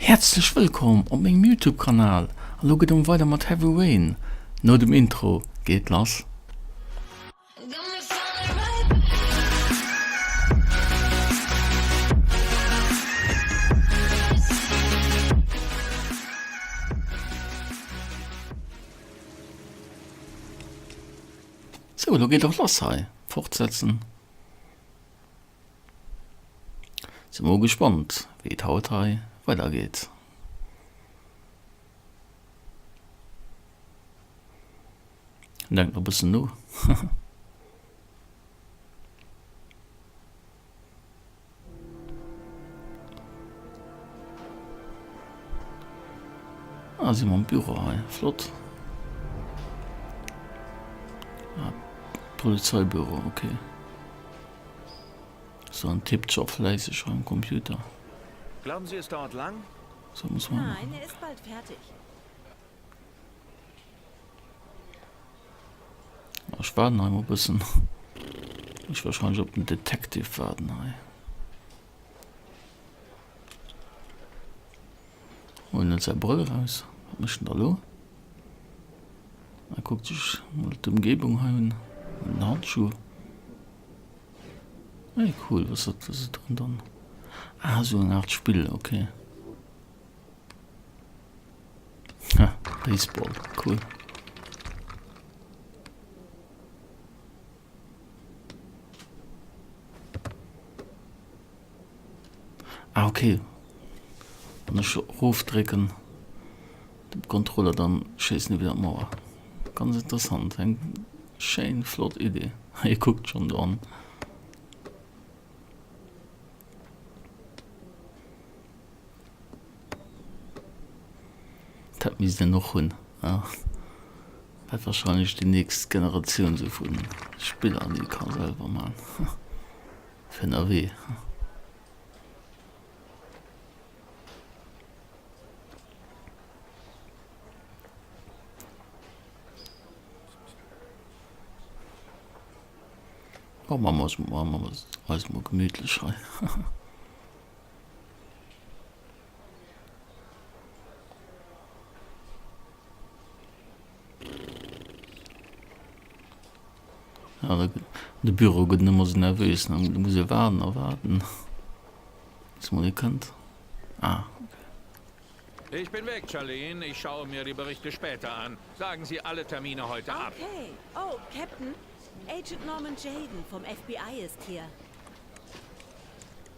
Häerzlech wëllkomm op mengem Youtube Kanal an lo gëtt ëm weider mat Heavy Rain, no dem Intro geet et lass. Sou, lo geet et och lass hei, fortsetzen. Sin mol gespannt wéi et haut hei weider geet. Denkt nach bëssen no. Ah si mer am Büro hei, flott. Polizeibüro, ok. Sou en tippt scho fläisseg am Computer. Glauben Sie, es dauert lang? Nein, er ist bald fertig. Ech waarden hei mol bëssen. Muss wahrscheinlech op den Detective waarden hei. Huelen net säi Brëll eraus, wat mécht en da lo? A kuckt sech mol d'Ëmgebung hei un. Huelen en Handschuh. Hey cool, wat ass dat drun dann? Ah esou eng Art Spill, ok. Ha, Baseball, cool. Ah ok, wann ech rof drécken den Controller dann schéissen ech wieder an d'Mauer. Ganz interessant, eng schéin flott Idee. Hei kuckt schon do an. Dat misst een och hunn, a wäert wahrscheinlech déi nächst Generatioun sou vu Spiller, déi ka selwer man, fir ënnerwee. Bon, maache mer eis mol gemütlech hei. De Büro gëtt ëmmer sou nervös, da muss ee waarden a waarden, bis mol ee kënnt. Ah, okay. Ich bin weg, Charlene. Ich schaue mir die Berichte später an. Sagen Sie alle Termine heute ab. Okay. Oh, Captain, Agent Norman Jayden vom FBI ist hier.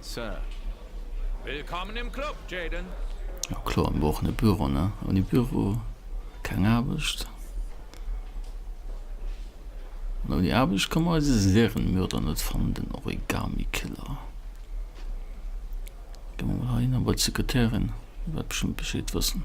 Sir. Willkommen im Club, Jayden. Jo kloer, mir brauchen e Büro, ne? Ouni Büro keng Aarbecht. An ouni Aarbecht ka mer eise Serienmörder net fannen, den Origami Killer. Gi mer mol heihinner bei d'Sekretärin, déi wäert bestëmmt Bescheed wëssen.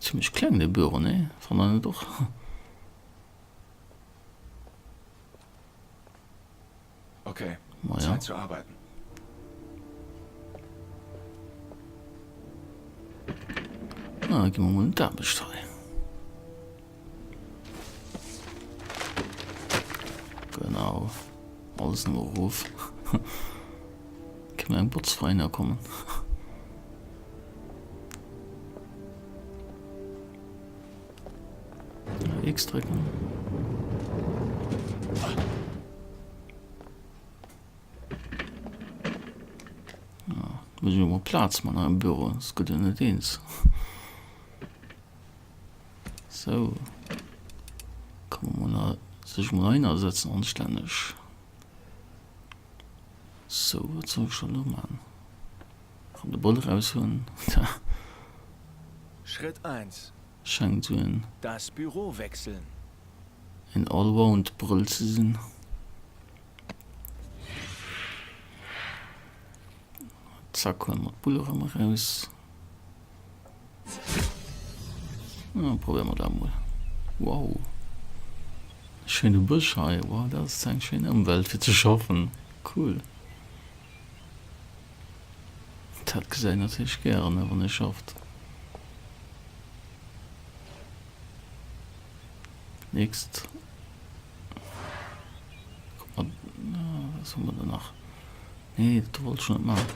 Zimlech kleng de Büro, nee? Fannt der net och? Ok, Zäit ze arbeiten. Da gi mer mol un d'Aarbecht hei. Genau. Alles no ruf. Ke eng Botz feiner kommen. X drücken. Ja, muss ich mal Platz man am Büro. Es gibt ja nicht eins. Sou, komme mer mol sech mol heinersetzen anstänneg. Sou, wat soll ech dann elo man? Kann de Ball eraus huelen. Schrëtt 1, Schengt sou en. Das Büro wechseln. En Allround Brëll ze sinn. Zack, huele mer d'Bull erëm eraus. Ah, probieren wir das mal. Wow. Schöne Busch hier. Wow, das ist eine schöne Umwelt für zu schaffen. Cool. Das gesehen natürlich gerne, wenn ich schafft. Next. Guck mal, was haben wir danach? Nee, das wollte ich nicht machen.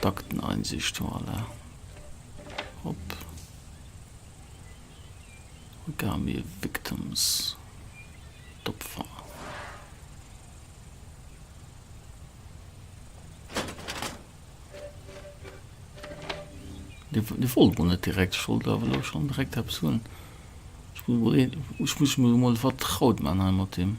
D'Akteneinsicht, voilà, op Origami Victims, d'Opfer. Dir wollt emol net direkt, ech wollt awer elo schonn direkt eppes hunn. Ech muss mech emol vertraut man hei mat deem.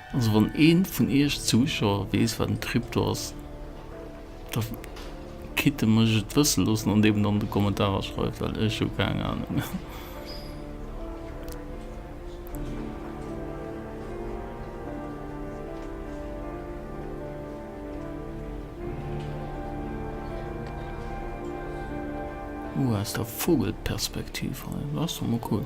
Also wann een vun iech Zuschauer wees wat en Crypto ass, da kitt en mech et wëssen loossen an eben an de Kommentarer schreiwen, well ech hu keng Ahnung. Ohh aus der Vogelperspektiv hei, ass jo mol cool.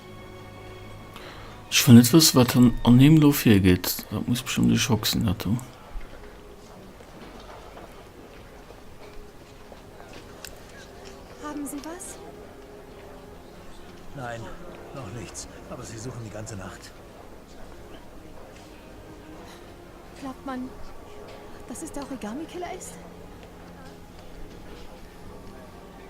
Ech wëll net wëssen, wat an him do virgeet. Dat muss bestëmmt e Schock sinn, dat do. Haben Sie was? Nein, noch nichts. Aber Sie suchen die ganze Nacht. Glaubt man, dass es der Origami-Killer ist?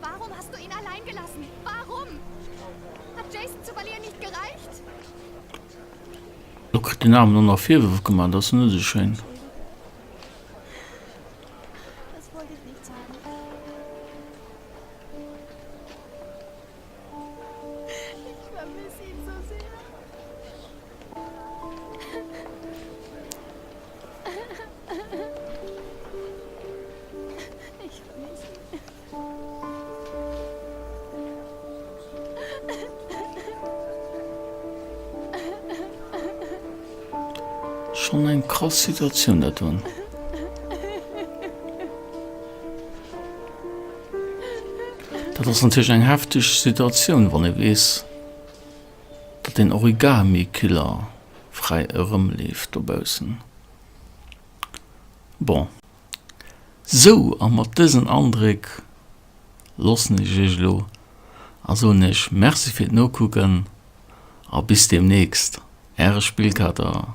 Warum hast du ihn allein gelassen? Warum? Hat Jason zu verlieren nicht gereicht? Lo kritt den Armen och nach Virwërf gemaach, dat ass net esou schéin. Schon eng krass Situatioun dat do. Dat ass natierlech eng hefteg Situatioun, wann ee weess, datt den Origami-Killer fräi erëmleeft dobaussen. Bon, sou, a mat dësen Andréck loossen ech iech elo a soen iech Merci fir d'Nokucken a bis deemnächst, äre Spillkater.